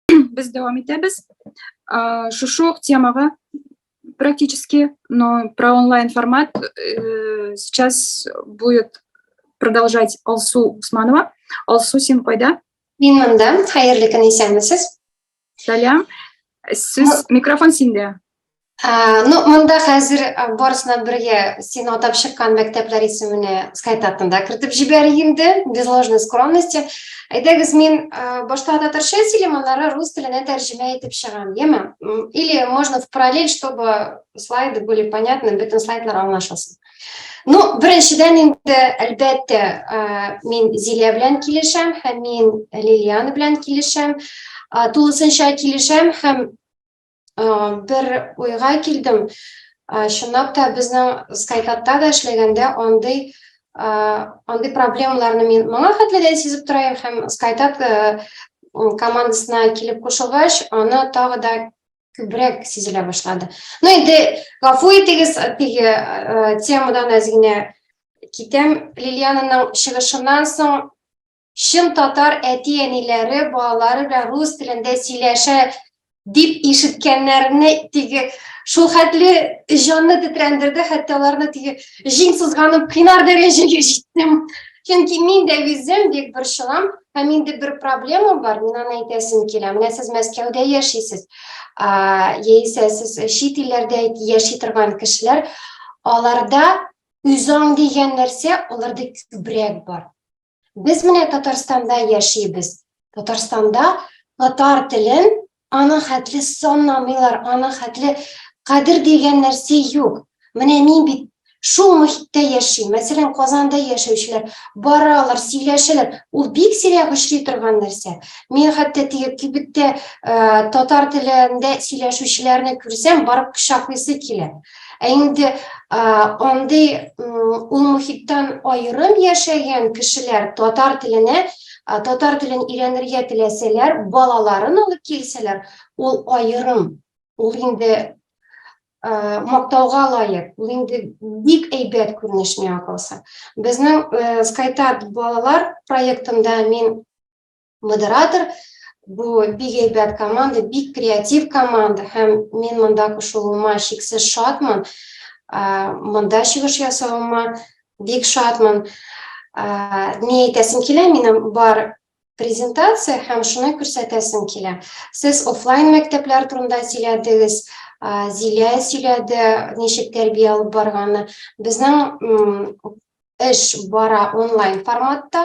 Без дәвам итәбез. Шушы ук темага практически, но про онлайн формат э, сейчас будет продолжать Алсу Усманова. Алсу, син кайда? Мин монда. Хәерле көн, исәнмесез. Сәлам. Сүз микрофон синдә. Ә, ну, монда хәзер барысына бергә син атап чыккан мәктәпләр исеменә скайт артында кертеп җибәрик инде, без ложной скромности. Әйдәгез, мин башта татарча сөйлим, аннары рус теленә тәрҗемә итеп чыгам, яме? Или можно в параллель, чтобы слайды были понятны, бөтен слайдлар аңлашылсын. Ну, беренчедән инде, әлбәттә, мин Зилия белән килешәм һәм мин Лилиана белән килешәм. Тулысынча килешәм һәм бер уйга килдем. Чынлап та безнең Скайкатта да эшләгәндә андый андый проблемаларны мин моңа хәтле дә сизеп тора һәм Скайкат командасына килеп кушылгач, аны тагы да күбрәк сизелә башлады. Ну инде гафу итегез, теге э, темадан әз генә китәм. Лилиананың чыгышыннан соң чын татар әти-әниләре балалары белән рус телендә сөйләшә дип ишеткәннәрне теге шул хәтле җанны тетрәндерде, хәтта аларны теге җиң сызганып кыйнар дәрәҗәгә җиттем. Чөнки мин дә үзем бик борчылам, Һәм инде бер проблема бар, мин аны әйтәсем килә. Менә сез Мәскәүдә яшисез, яисә сез чит илләрдә яши торган кешеләр, аларда үзаң дигән нәрсә аларда күбрәк бар. Без менә Татарстанда яшибез. Татарстанда татар телен Аның хәтле санамыйлар, аның хәтле кадер дигән нәрсә юк. Менә мин бит шул мөхиттә яши. Мәсәлән, Казанда яшәүчеләр баралар, сөйләшәләр. Ул бик сирәк очрый торган нәрсә. Мин хәтта теге кибеттә татар телендә сөйләшүчеләрне күрсәм, барып кочаклыйсы килә. Ә инде андый ул мөхиттән аерым яшәгән кешеләр татар теленә татар телен өйрәнергә теләсәләр, балаларын алып килсәләр, ул аерым. Ул инде мактауга лаек, ул инде бик әйбәт күренеш миңа калса. Безнең Скайтат балалар проектында мин модератор бу бик әйбәт команда бик креатив команда һәм мин монда кушылуыма шиксез шатмын монда чыгыш ясавыма бик шатмын ни әйтәсем килә минем бар презентация һәм шуны күрсәтәсем килә сез офлайн мәктәпләр турында сөйләдегез зилә сөйләде ничек тәрбия алып барганы безнең эш бара онлайн форматта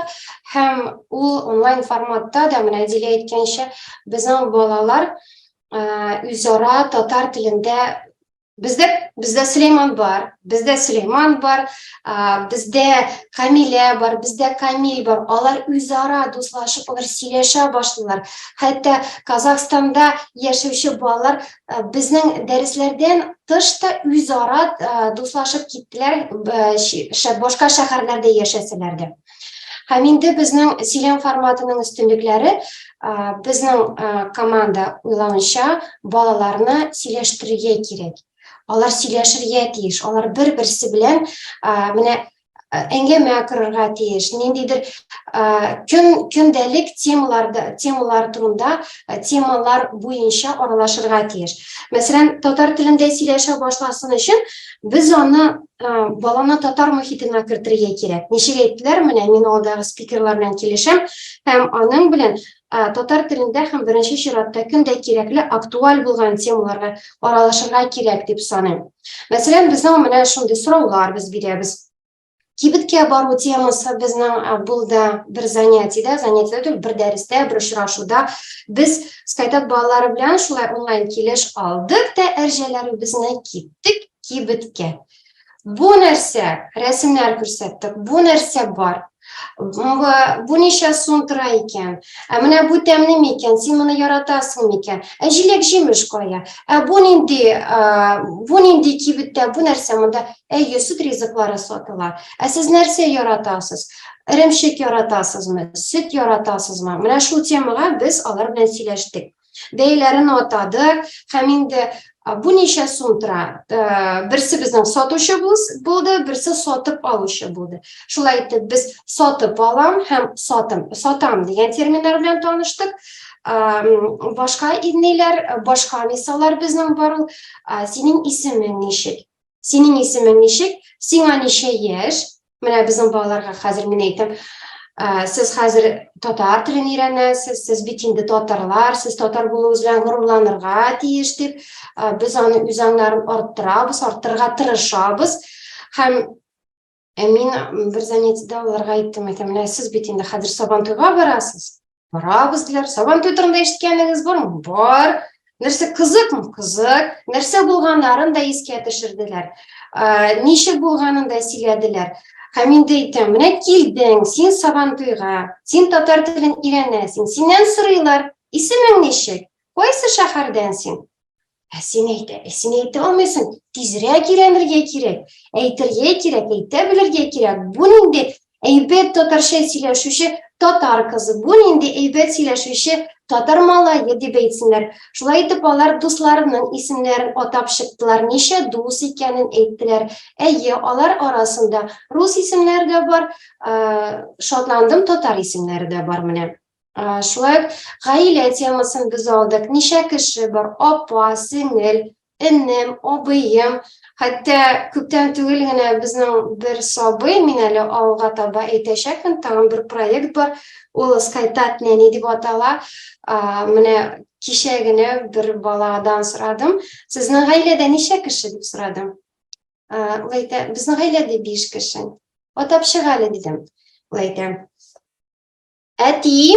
һәм ул онлайн форматта да менә Дилә әйткәнчә безнең балалар үзара татар телендә Бездә бездә Сөләйман бар, бездә Сөләйман бар, бездә Камилә бар, бездә Камил бар. Алар үзара дуслашып, алар сөйләшә башлыйлар. Хәтта Казахстанда яшәүче балалар Э, безнең дәресләрдән тыш та үзара э, дуслашып киттеләр э, башка шәһәрләрдә яшәсәләр дә һәм инде безнең сөйләм форматының өстенлекләре безнең команда уйлавынча балаларны сөйләштерергә кирәк алар сөйләшергә тиеш алар бер берсе белән менә әңгәмә корырга тиеш ниндидер көн көндәлек темаларда темалар турында темалар буенча аралашырга тиеш мәсәлән татар телендә сөйләшә башласын өчен без аны баланы татар мөхитенә кертергә кирәк ничек әйттеләр менә мин алдагы спикерлар белән килешәм һәм аның белән Ә, татар телендә һәм беренче чиратта көн дә кирәкле актуаль булган темаларга аралашырга кирәк дип саныйм. Мәсәлән, безнең менә шундый сораулар без бирәбез. Кибеткә бару темасы безнең ә, булды бер занятиедә, занятиедә түгел, бер дәрестә, бер очрашуда. Без Скайтат балалары белән шулай онлайн килеш алдык та әрҗәләребезне киттек кибеткә. Бу нәрсә, рәсемнәр күрсәттек, бу нәрсә бар. Бу ничә сум тора икән? Ә менә бу тәмле микән? Син моны яратасың микән? Ә җиләк җимеш кая? Ә бу нинди, бу нинди кибеттә, бу нәрсә монда? Әйе, сөт ризыклары сатыла. Ә сез нәрсә яратасыз? Эремчек яратасызмы? Сөт яратасызмы? Менә шул темага без алар белән сөйләштек. бәяләрен атадык һәм инде бу ничә сум тора берсе безнең сатучы булды берсе сатып алучы булды шулай итеп без сатып алам һәм сатым сатам дигән терминнар белән таныштык башка ниләр башка мисаллар безнең бар ул синең исемең ничек синең исемең ничек сиңа ничә яшь Менә безнең балаларга хәзер мин әйтәм, ә, сез хәзер татар телен өйрәнәсез, сез бит инде татарлар, сез татар булуыгыз белән горурланырга тиеш дип, ә, без аны үз аңнарын арттырабыз, арттырырга тырышабыз. Һәм ә мин бер занятиедә аларга әйттем, әйтәм, менә сез бит инде хәзер сабантуйга барасыз. Барабыз диләр. Сабан туй турында ишеткәнегез бармы? Бар. Нәрсә кызыкмы? Кызык. Нәрсә булганнарын да искә төшерделәр. Ә, ничек булганын да сөйләделәр. Һәм инде әйтәм, менә килдең, син сабан туйга, син татар телен өйрәнәсең. Синнән сорыйлар, исемең ничек? Кайсы шәһәрдән син? Ә син әйтә, ә син әйтә алмыйсың, тизрәк өйрәнергә кирәк, әйтергә кирәк, әйтә белергә кирәк. Бу нинди әйбәт татарча сөйләшүче татар кызы, бу нинди әйбәт сөйләшүче татар малае дип әйтсеннәр. Шулай итеп алар дусларының исемнәрен атап чыктылар, ничә дус икәнен әйттеләр. Әйе, алар арасында рус исемнәре дә бар, шатландым, татар исемнәре дә бар менә. Шулай ук гаилә темасын без алдык. Ничә кеше бар? Апа, сеңел, энем, абыем. Хәтта күптән түгел генә безнең бер сабый, мин әле алга таба әйтәчәкмен, тагын бер проект бар. Ул Скайтат нәни дип атала. Менә кичә генә бер баладан сорадым. Сезнең гаиләдә ничә кеше дип сорадым. Ул әйтә, безнең гаиләдә биш кеше. Атап чык әле, дидем. Ул әйтә, Әти,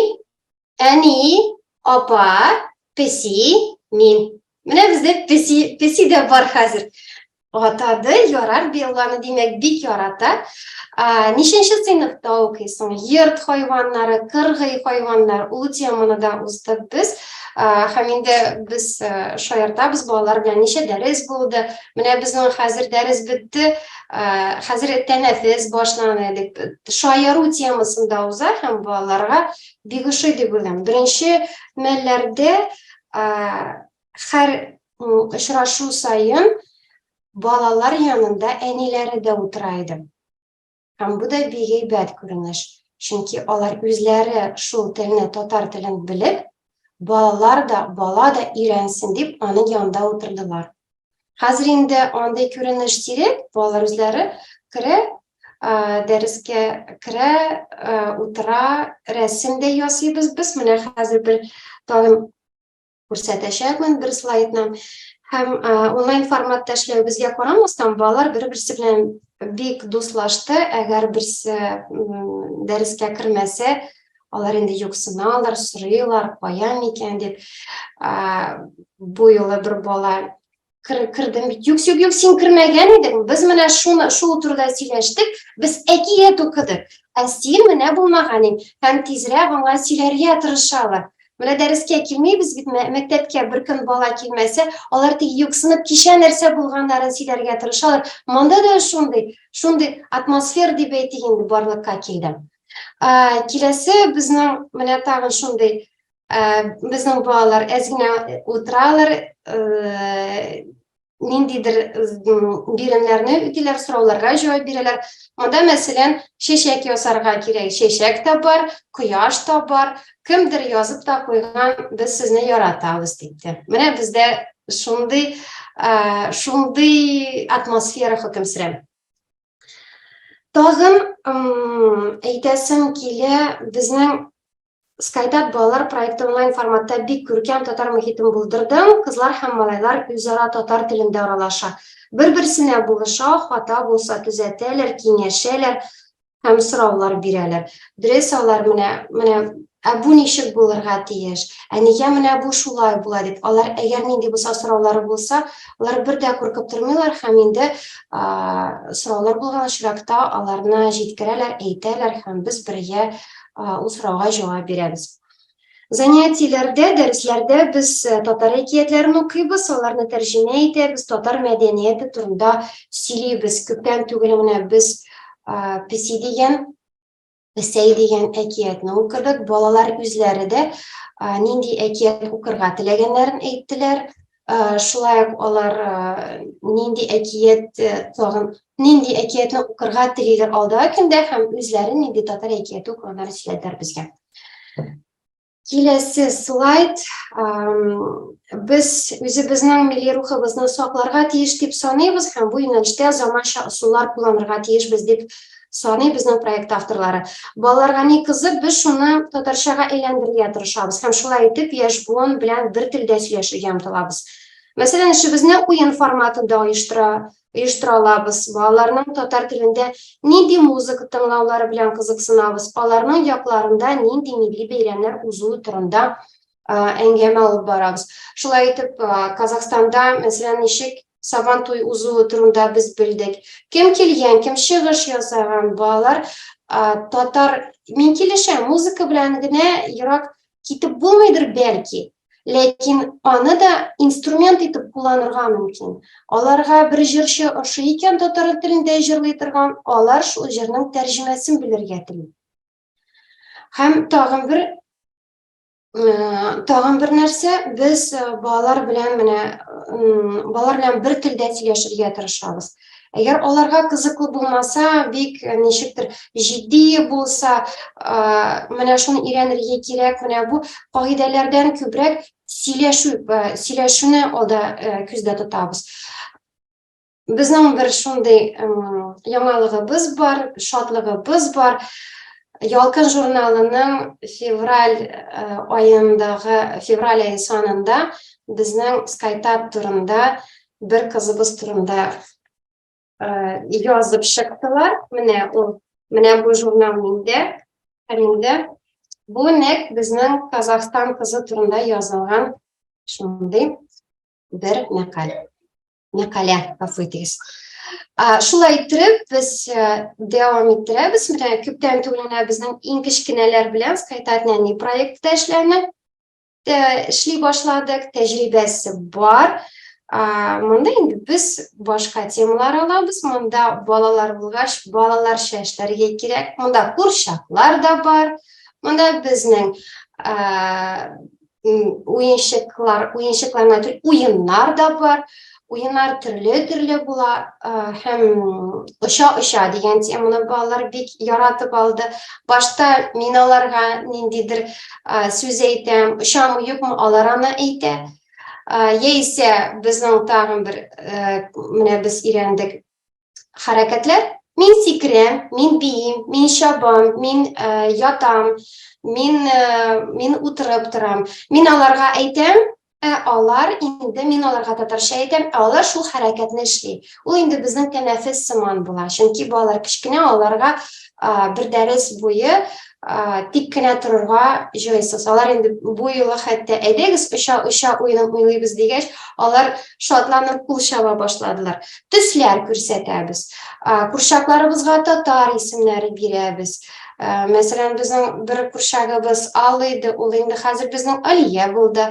әни, апа, песи, мин. Менә бездә песи, песи дә бар хәзер. Атады, ярар Белланы, димәк, бик ярата. А, нишенче сыйныфта укыйсың? Йорт хайваннары, кыргый хайваннар, ул теманы да уздык без. А, һәм инде без шаяртабыз балалар белән ничә дәрес булды. Менә безнең хәзер дәрес бетте. Э, хәзер тәнәфес башлана дип шаяру темасында уза һәм балаларга бик ошый дип уйлыйм беренче мәлләрдә һәр э, очрашу саен балалар янында әниләре дә утыра иде һәм бу да бик әйбәт күренеш чөнки алар үзләре шул телне татар телен белеп балалар да бала да өйрәнсен дип аның янында утырдылар Хәзер инде андый күренеш сирәк, балалар үзләре керә, дәрескә керә, утыра, рәсем дә ясыйбыз без. Менә хәзер бер тагын күрсәтәчәкмен бер слайдны. Һәм онлайн форматта эшләвебезгә карамастан, балалар бер-берсе белән бик дуслашты. Әгәр берсе дәрескә кермәсә, Алар инде юксыналар, сорыйлар, кая микән дип. Бу юлы бер бала кірдім юк юк юк сен кірмеген едің біз міне шуны шул турда сөйләштек біз әкият укыдык ә сен менә булмаган ең һәм тизрәк аңа сөйләргә тырышалар менә дәрескә килмибез бит мәктәпкә беркем бала килмәсә алар тик юксынып кичә нәрсә булганнарын сөйләргә тырышалар монда да шундый шундый атмосфер дип әйтик инде барлыкка килде Ә, киләсе безнең менә тагын шундый ә, безнең балалар әз генә утыралар, ә, ниндидер биремнәрне үтиләр, сорауларга җавап бирәләр. Монда, мәсәлән, чәчәк ясарга кирәк. Чәчәк тә бар, кояш та бар. Кемдер язып та куйган, без сезне яратабыз диде. Менә бездә шундый, ә, шундый атмосфера хөкем сөрә. Тагын әйтәсем килә, безнең Skytap балалар проекты онлайн форматта бик күркәм татар мөхитен булдырдым. Кызлар һәм малайлар үзара татар телендә аралаша. Бер-берсенә булыша, хата булса төзәтәләр, киңәшәләр һәм сораулар бирәләр. Дөрес алар менә менә Ә бу ничек булырга тиеш? Ә нигә менә бу шулай була дип, алар әгәр нинди булса сораулары булса, алар бер дә куркып тормыйлар һәм инде сораулар булган очракта аларны җиткерәләр, әйтәләр һәм без бергә ул сорауга җавап бирәбез. Занятиеләрдә, дәресләрдә без э, татар әкиятләрен укыйбыз, аларны тәрҗемә итәбез, татар мәдәнияте турында сөйлибез. Күптән түгел менә без э, песи дигән Сәй дигән әкиятне укыдык. Балалар үзләре дә нинди әкият укырга теләгәннәрен әйттеләр. Шулай ук алар нинди әкият тагын нинди әкиятне укырга телиләр алдагы көндә һәм үзләре нинди татар әкияте укыганнарын сөйләделәр безгә. Киләсе слайд. Без үзебезнең милли рухыбызны сакларга тиеш дип саныйбыз һәм бу юнәлештә заманча ысуллар кулланырга тиешбез дип саный безнең проект авторлары. Балаларга ни кызык, без шуны татарчага әйләндерергә тырышабыз һәм шулай итеп яшь буын белән бер телдә сөйләшергә омтылабыз. Мәсәлән, эшебезне уен форматында оештыра оештыра алабыз. Балаларның татар телендә нинди музыка тыңлаулары белән кызыксынабыз, аларның якларында нинди милли бәйрәмнәр узуы турында әңгәмә алып барабыз. Шулай итеп, Казахстанда, мәсәлән, ничек сабан туй узуы турында без белдек. Кем килгән, кем чыгыш ясаган, балалар татар мин килешәм, музыка белән генә ерак китеп булмыйдыр бәлки, ләкин аны да инструмент итеп кулланырга мөмкин. Аларга бер җырчы ошый икән татар телендә җырлый торган, алар шул җырның тәрҗемәсен белергә тели. Һәм тагын бер тагын бер нәрсә, без балалар белән менә балалар белән бер телдә сөйләшергә тырышабыз. Әгәр аларга кызыклы булмаса, бик э, ничектер җитди булса, э, менә шуны өйрәнергә кирәк, менә бу кагыйдәләрдән күбрәк сөйләшү, э, сөйләшүне алда күздә тотабыз. Безнең бер шундый яңалыгыбыз бар, шатлыгыбыз бар. Ялкын журналының февраль айындагы февраль ай санында безнең Skytap турында Бер кызыбыз турында язып чыктылар. Менә ул, менә бу журнал миндә, әлемдә. Бу нәк безнең Казахстан кызы турында язылган шундый бер мәкаль. Мәкалә, гафу итегез. Шулай итеп, без дәвам иттерәбез. Менә күптән түгел генә безнең иң кечкенәләр белән Скайтатняни проектта эшләнә. эшли башладык, тәҗрибәсе бар. Монда инде без башка темалар алабыз. Монда балалар булгач, балаларча эшләргә кирәк. Монда курчаклар да бар. Монда безнең уенчыклар, уенчыкларны уеннар да бар. Уеннар төрле-төрле була һәм оча-оча дигән теманы балалар бик яратып алды. Башта мин аларга ниндидер сүз әйтәм, очамы юкмы алар аны әйтә. Яисә безнең тагын бер менә без өйрәндек хәрәкәтләр. Мин сикерәм, мин биим, мин чабам, мин ә, ятам, мин, ә, мин утырып торам. Мин аларга әйтәм, ә алар инде мин аларга татарча әйтәм, ә алар шул хәрәкәтне эшли. Ул инде безнең тәнәфес сыман була, чөнки балалар кечкенә, аларга бер дәрес буе тик кенә торырга җыйсыз. Алар инде бу юлы хәтта әйдәгез оча-оча уенын уйлыйбыз дигәч, алар шатланып кул чаба башладылар. Төсләр күрсәтәбез. Курчакларыбызга татар исемнәре бирәбез. Мәсәлән, безнең бер курчагыбыз Алый иде, ул инде хәзер безнең Алия булды.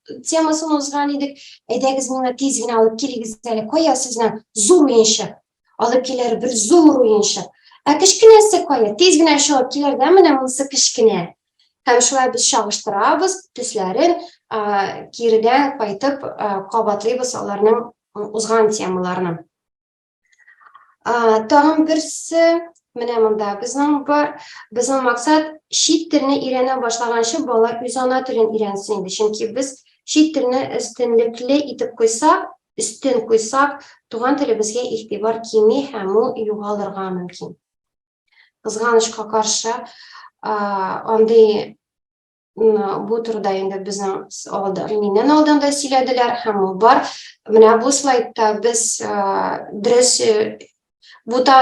темасын узган идек. Әйдәгез миңа тиз генә алып килегез әле. Кая сезне зур уенчык. Алып килер бер зур уенчык. Ә кечкенәсе кая? Тиз генә чыгып килер дә, менә монысы кечкенә. Һәм шулай без чагыштырабыз, төсләрен киредән кайтып кабатлыйбыз аларның узган темаларны. Тагын берсе, менә монда безнең бар. Безнең максат чит телне өйрәнә башлаганчы бала үз ана телен өйрәнсен инде. Чөнки без чит телне өстенлекле итеп куйсак, өстен куйсак, туган телебезгә игътибар кими һәм ул югалырга мөмкин. Кызганычка каршы, андый Бу турыда инде безнең алда, миннән алдан да сөйләделәр һәм ул бар. Менә бу слайдта без дөрес бу та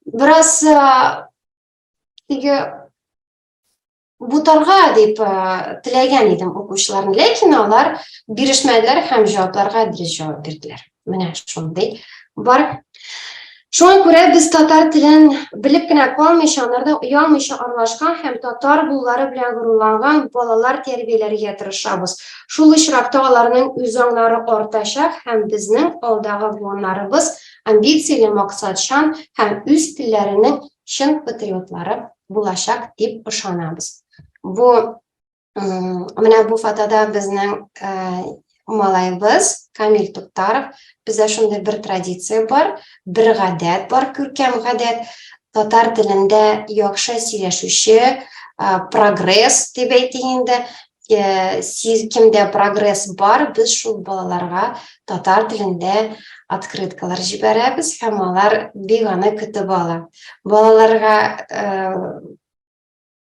бераз теге бутарга дип теләгән идем укучыларны, ләкин алар бирешмәделәр һәм җавапларга дөрес җавап бирделәр. Менә шундый бар. Шуңа күрә без татар телен белеп кенә калмыйча, анарда оялмыйча аралашкан һәм татар булулары белән горурланган балалар тәрбияләргә тырышабыз. Шул очракта аларның үз аңнары артачак һәм безнең алдагы буыннарыбыз амбицияле, максатчан һәм үз телләренең чын патриотлары булачак дип ышанабыз. Бу Менә бу фотода безнең малаебыз Камил Туктаров. Бездә шундый бер традиция бар, бер гадәт бар, күркәм гадәт. Татар телендә яхшы сөйләшүче, прогресс дип әйтик инде, сез кемдә прогресс бар, без шул балаларга татар телендә открыткалар җибәрәбез һәм алар бик аны көтеп ала. Балаларга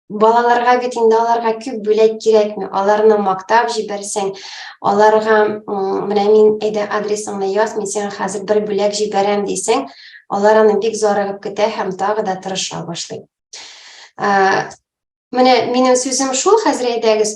балаларга бит инде аларга күп бүләк кирәкми аларны мактап җибәрсәң аларга менә мин әйдә адресыңны яз мин сиңа хәзер бер бүләк җибәрәм дисәң алар аны бик зарыгып көтә һәм тагы да тырыша башлый менә минем сүзем шул хәзер әйдәгез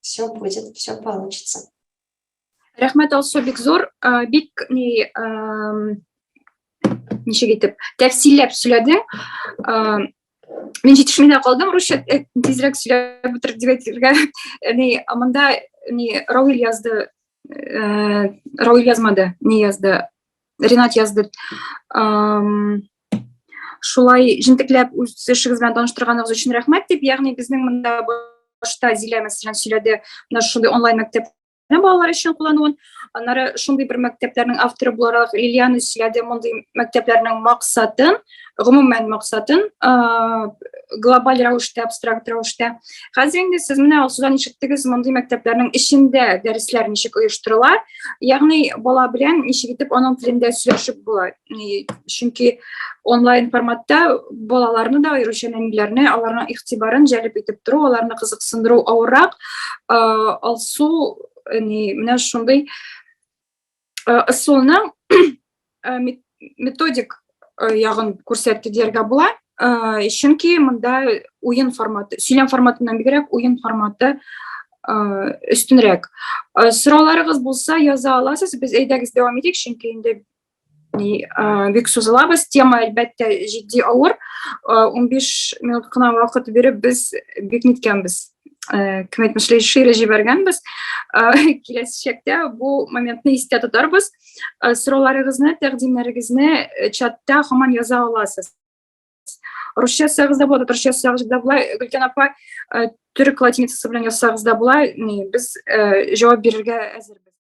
Все будет, все получится. Рәхмәт Алсу бик зур, бик ни ничек итеп тәфсилләп сөйләде. Мин җитешмәдә калдым, русча э, тизрәк сөйләп бетереп дип әйтергә. Ни монда ни Равил язды, э, Равил язмады, ни язды, Ренат язды. Шулай җентекләп үз эшегез белән таныштырганыгыз өчен рәхмәт дип, ягъни безнең монда башта Зилә мәсәлән сөйләде, менә шундый онлайн мәктәп балалар өчен куллануын аннары шундый бер мәктәпләрнең авторы буларак лилиана сөйләде мондый мәктәпләрнең максатын гомумән максатын глобаль рәвештә абстракт рәвештә хәзер инде сез менә алсудан ишеттегез мондый мәктәпләрнең эчендә дәресләр ничек оештырыла ягъни бала белән ничек итеп аның телендә сөйләшеп була чөнки онлайн форматта балаларны да аеруча нәниләрне аларның игътибарын җәлеп итеп тору аларны кызыксындыру авыррак алсу не менә шундый ысулны методик ягын күрсәтте дияргә була чөнки монда уен форматы сөйләм форматыннан бигрәк уен форматы өстенрәк сорауларыгыз булса яза аласыз без әйдәгез дәвам итик чөнки инде бик сүз алабыз тема әлбәттә җитди авыр 15 минут кына вакыт биреп без бик ниткәнбез кем әйтмешли шире җибәргәнбез киләчәктә бу моментны истә тотарбыз сорауларыгызны тәкъдимнәрегезне чатта һаман яза аласыз русча язсагыз да болады татарча язсагыз да була гөлкән апа төрек латиницасы белән язсагыз да була без җавап бирергә әзербез